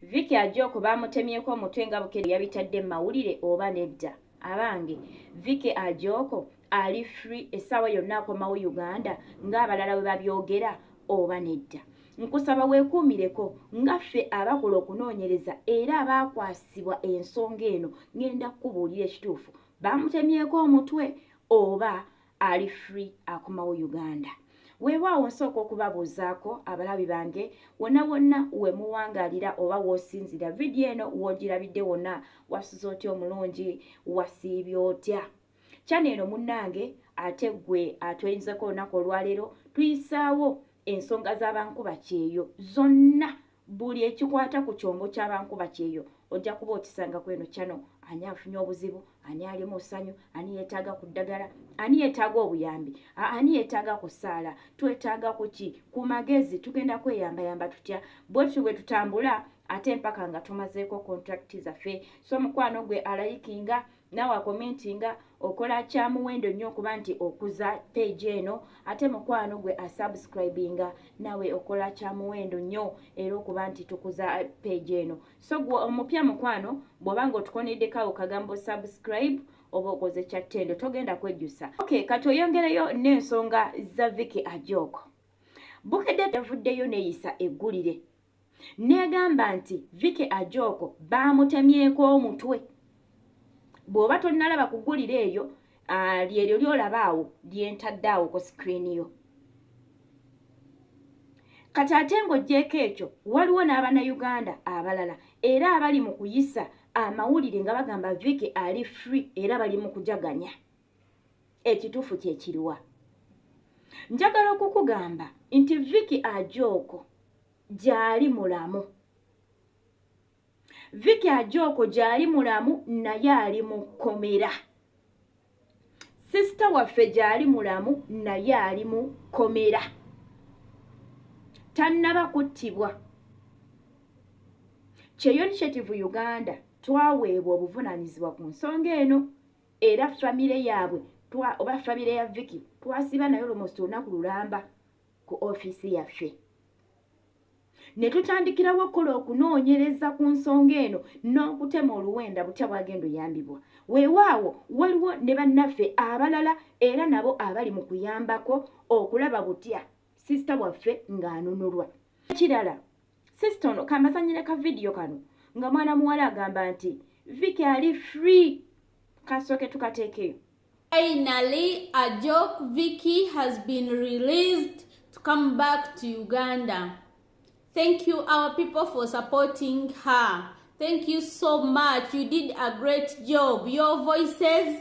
Vicky Ajoko baamutemyeko omutwe nga Bukedde yabitadde mu mawulire oba nedda? Abange, Vicky Ajoko ali free essaawa yonna akomawo Uganda ng'abalala we babyogera oba nedda? Nkusaba weekuumireko nga ffe abakola okunoonyereza era abaakwasibwa ensonga eno ng'enda kukubuulira ekituufu baamutemyeko omutwe oba ali free akomawo uganda weewaawo nsooka okubabuuzaako abalabi bange wonna wonna we muwangaalira oba w'osinzira vidiyo eno w'ogirabidde wonna wasuza otya omulungi wasiibye otya kyana eno munnange ate ggwe atweyinzeko olunaku olwaleero tuyisaawo ensonga z'abankuba kyeyo zonna Buli ekikwata ku kyombo kya bankuba kyeyo ojja kuba okisanga ku eno channel. Ani afunye obuzibu, ani ali mu ssanyu, ani yeetaaga ku ddagala, ani yeetaaga obuyambi, ani yeetaaga ku ssaala, twetaaga ku ki, ku magezi, tugenda kweyambayamba tutya, bwe tutyo bwe tutambula ate mpaka nga tumazeeko kontulakiti zaffe. So mukwano gwe alayikinga nawe akomenti nga okola kyamuwendo nnyo okuba nti okuza page eno ate mukwano gwe asubscribinga nawe okola kyamuwendo nnyo era okuba nti tukuza page eno so gwe omupya mukwano bwoba nga otukoneddekawo kagambo subscribe oba okoze kyattendo togenda kwejjusa ok kati oyongereyo n'ensonga za viki ajoko bukedde yavuddeyo neyisa eggulire Neegamba nti Vicky Ajoko baamutemyeko omutwe. Bw'oba tonnalaba ku ggulire eyo, lyeryo ly'olaba awo lye ntadde awo ku sikrini yo. Kati ate ng'oggyeeko ekyo, waliwo n'Abannayuganda abalala era abali mu kuyisa amawulire nga bagamba Vicky ali free era bali mu kujaganya. ekituufu kyekiriwa njagala okukugamba nti viki ajooko gyali mulamu viki ajooko gyali mulamu naye ali mu kkomera sisita waffe gyali mulamu naye ali mu kkomera tannaba kuttibwa kyeyo initiative uganda twaweebwa obuvunanyizibwa ku nsonga eno era family yabwe twa oba family ya Vicky twasiba nayo lomost olunaku lulamba ku office yaffe ne tutandikirawo okukola okunoonyereza ku nsonga eno n'okutema oluwenda butya bwagenda oyambibwa weewaawo waliwo ne bannaffe abalala era nabo abali mu kuyambako okulaba butya sisita waffe ng'anunulwa kirala Sister ono kambasanyire ka video kano nga mwana muwala agamba nti Vicky ali free kasooke tukateekeyo. Finally, Ajok Vicky has been released to come back to Uganda. Thank you our people for supporting her. Thank you so much. You did a great job. Your voices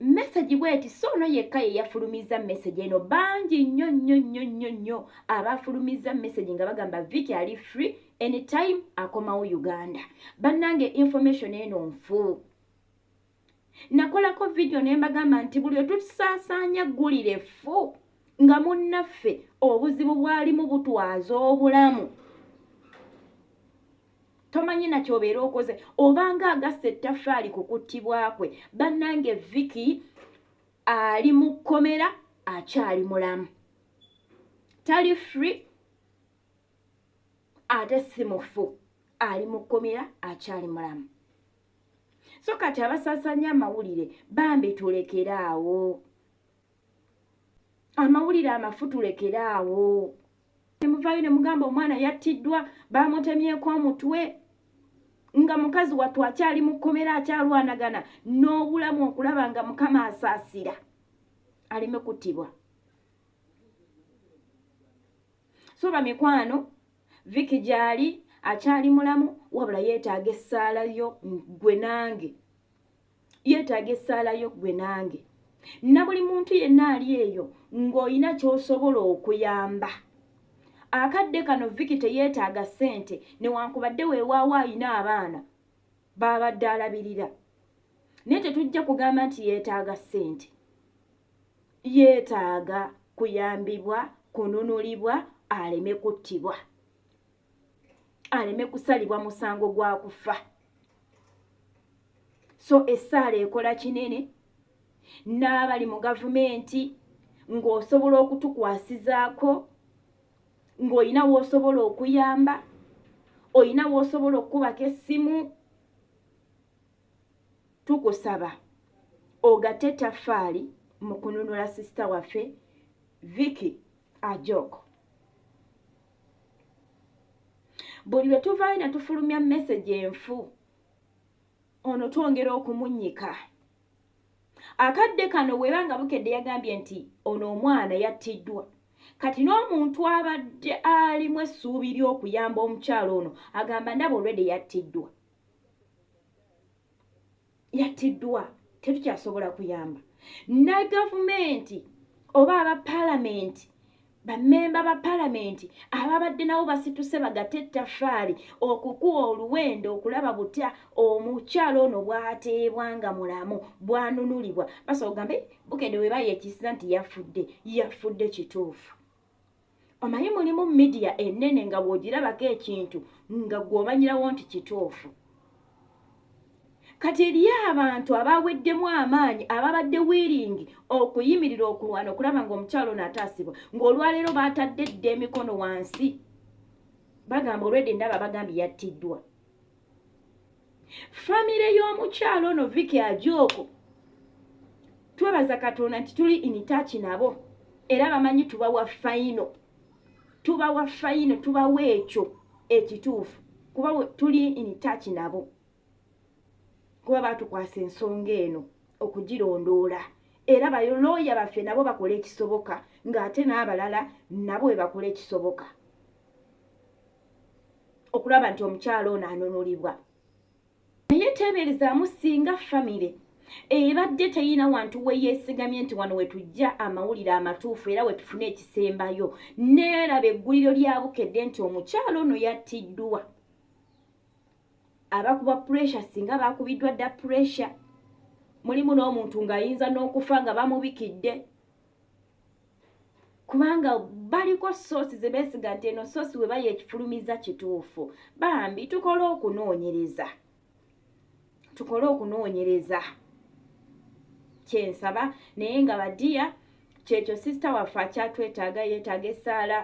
message bweti so ono yekka ye yafulumizza message eno bangi nnyo nnyo nnyo nnyo nnyo abafulumizza message nga bagamba viki ali free anytime akomawo uganda bannange information eno nfu nakolako vidiyo ne mbagamba nti buli otusaasaanya ggulire ffu nga munnaffe obuzibu bwalimu butwaza obulamu tomanyi na kyobeera okoze obanga agasse ettafaali ku kuttibwa kwe bannange viki ali mu kkomera akyali mulamu tali free ate si mufu ali mu kkomera akyali mulamu so kati abasasanya amawulire bambi tulekere awo amawulire amafu tulekere awo nemuvayo nemugamba omwana yattiddwa bamutemyeko omutwe nga mukazi wattu akyali mu kkomera akyalwanagana n'obulamu okulaba nga mukama asaasira aleme kuttibwa so bamikwano viki gyali akyali mulamu wabula yeetaaga essaala yo gwe nange yeetaaga essaala yo ggwe nange na buli muntu yenna ali eyo ng'olina ky'osobola okuyamba akadde kano viki teyeetaaga ssente newankubadde weewaawo alina abaana baabadde alabirira naye tetujja kugamba nti yeetaaga ssente yeetaaga kuyambibwa kununulibwa aleme kuttibwa aleme kusalibwa musango gwa kufa so essaala ekola kinene n'abali mu gavumenti ng'osobola okutukwasizaako ng'olina w'osobola okuyamba olina w'osobola okukubako essimu tukusaba ogate etafaali mu kununula sisita waffe viki ajoko buli lwe tuvaayo ne tufulumya mesegi enfu ono twongera okumunyika akadde kano weeba nga bukedde yagambye nti ono omwana yattiddwa kati n'omuntu abadde alimu essuubi ly'okuyamba omukyalo ono agamba ndaba olwedde yattiddwa yattiddwa tetukyasobola kuyamba ne gavumenti oba aba palamenti bamemba ba palamenti ababadde nabo basituse bagate ettafaali okukuwa oluwendo okulaba butya omukyalo ono bwateebwa nga mulamu bwanunulibwa basobola kugambe bukende webayeekisiza nti yafudde yafudde kituufu omanyi mulimu midiya enene nga bwogirabako ekintu nga gwomanyirawo nti kituufu kati eriyo abantu abaweddemu amaanyi ababadde wiiringi okuyimirira okulwana okulaba ngaomukyalo ono ataasibwa ngaolwaleero baatadde dda emikono wansi bagamba olwedde ndaba bagambye yattiddwa famire y'omukyalo ono viki ajooko twebaza katonda nti tuli initaki nabo era bamanyi tubawa fayino tubawa fayino tubawa ekyo ekituufu kuba tuli initaki nabo kuba batukwasa ensonga eno okugirondoola era balooya baffe nabo bakola ekisoboka ng'ate n'abalala nabo bwe bakola ekisoboka okulaba nti omukyalo ono anunulibwa naye teeberezaamu singa famire ebadde teyina wantu weyeesigamye nti wano wetujja amawulire amatuufu era wetufune ekisembayo neeraba egguliro lya bukedde nti omukyalo ono yattiddwa abakuba puresha singa baakubiddwa dda puresha mulimu n'omuntu ng'ayinza n'okufa nga bamubikidde kubanga baliko soosi ze beesiga nti eno soosi we baye ekifulumiza kituufu bambi tukole okunoonyereza tukole okunoonyereza kyensaba naye nga badiya kyekyo sisita waffe akyatwetaaga yeetaaga essaala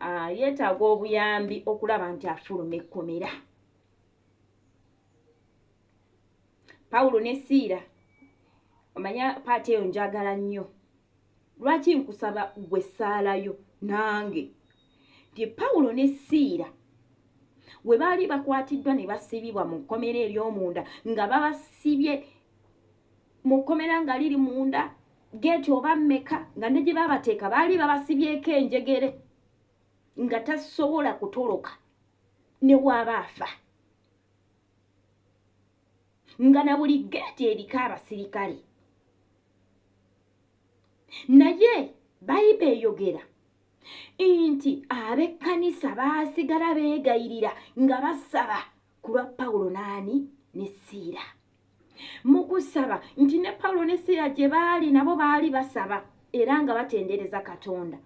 ah, yeetaaga obuyambi okulaba nti afuluma ekkomera pawulo ne siira omanya paati eyo njagala nnyo lwaki nkusaba gwe saalayo nange nti pawulo ne siira we baali bakwatiddwa ne basibibwa mu kkomera ery'omunda nga babasibye mu kkomera nga liri munda geeti oba mmeka nga ne gye baabateeka baali babasibyeko enjegere nga tasobola kutoloka ne waaba afa nga na buli geeti eriko abasirikale naye bayiba eyogera nti ab'ekkanisa baasigala beegayirira nga basaba ku lwa pawulo n'ani ne siira mu kusaba nti ne pawulo ne siira gye baali nabo baali basaba era nga batendereza katonda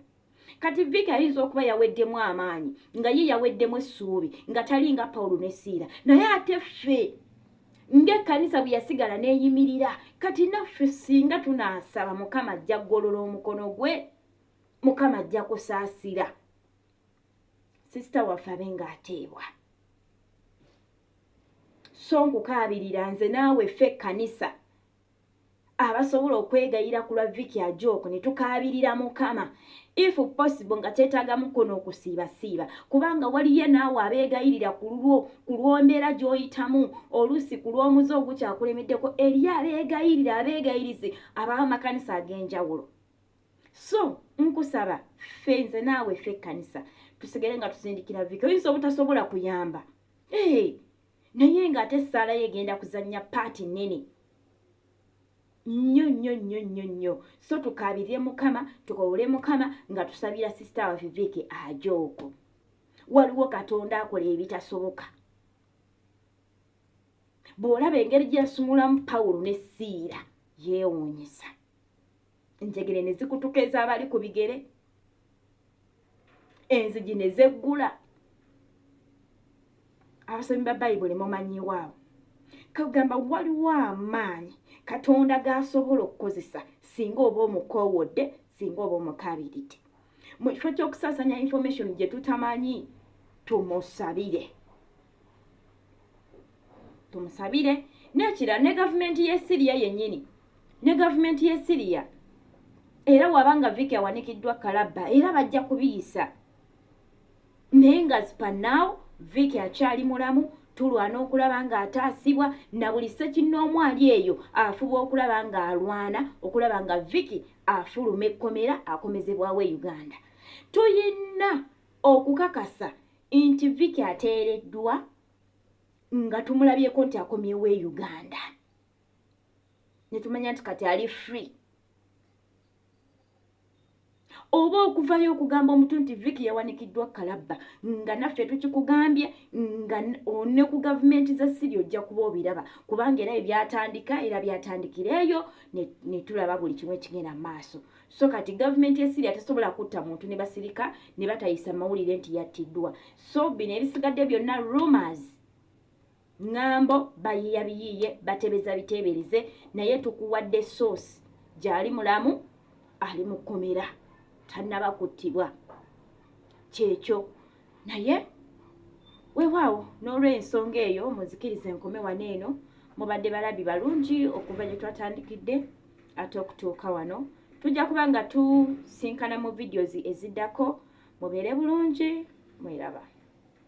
kati viki ayinza okuba yaweddemu amaanyi nga ye yaweddemu essuubi nga tali nga pawulo ne siira naye ate ffe ng'ekkanisa bwe yasigala n'eyimirira kati naffe singa tunaasaba mukama ajja kugolola omukono gwe mukama ajja kusaasira sisita waffe abe ng'ateebwa so nkukaabirira nze naawe ffe ekkanisa abasobola okwegayira ku lwa Vicky Ajok ne tukaabirira Mukama if possible nga kyetaagamu ko n'okusiibasiiba kubanga waliyo naawe abeegayirira ku lulwo ku lw'ombeera gy'oyitamu oluusi ku lw'omuze ogukyakulemeddeko eriyo abeegayirira abeegayirizi ab'amakanisa ag'enjawulo so nkusaba ffe nze naawe ffe ekkanisa tusigale nga tuzindikira Vicky oyinza obutasobola kuyamba ee hey. naye nga ate essaala ye egenda kuzannya paati nnene nnyo nnyo nnyo nnyo nnyo so tukaabirire mukama tukowole mukama nga tusabira sisita wa viviiki aje okwo waliwo katonda akola ebitasoboka bw'olaba engeri gye yasumulamu pawulo ne siira yeewuunyisa enjegere ne zikutuka ez'abali ku bigere enzigi ne zeggula abasomi ba bayibuli mumanyiwaabo kagamba waliwo amaanyi katonda g'asobola okukozesa singa oba omukoowodde singa oba omukabiridde mu kifo ky'okusaasanya information gye tutamanyi tumusabire tumusabire nekira ne gavumenti ye siriya yenyini ne gavumenti ye siriya era waba nga viki awanikiddwa kalabba era bajja kubiyisa naye nga spanaw viki akyali mulamu tulwana okulaba nga ataasibwa na buli sekinnoomu ali eyo afuba okulaba nga alwana okulaba nga viki afuluma ekkomera akomezebwawo e uganda tuyina okukakasa Inti Vicky ateereddwa nga tumulabyeko nti akomyewo e Uganda netumanya nti kati ali free oba okuvayo okugamba omuntu nti viki yawanikiddwa kalabba nga naffe tukikugambye nga one ku gavumenti za siri ojja kuba obiraba kubanga era ebyatandika era byatandikira eyo netulaba buli kimu ekigenda maaso So kati government ya Syria tesobola kutta muntu ne basirika ne batayisa mawulire nti yattiddwa. So bino ebisigadde byonna rumors ngambo bayiya biyiye batebeza bitebereze naye tukuwadde source gyali mulamu ali mu kkomera tannaba kuttibwa kyekyo naye wewaawo n'olwensonga eyo muzikiriza enkome wano eno mubadde balabi balungi okuva gye twatandikidde ate okutuuka wano tujja kuba nga tusinkana mu vidiyozi eziddako mubeere bulungi mweraba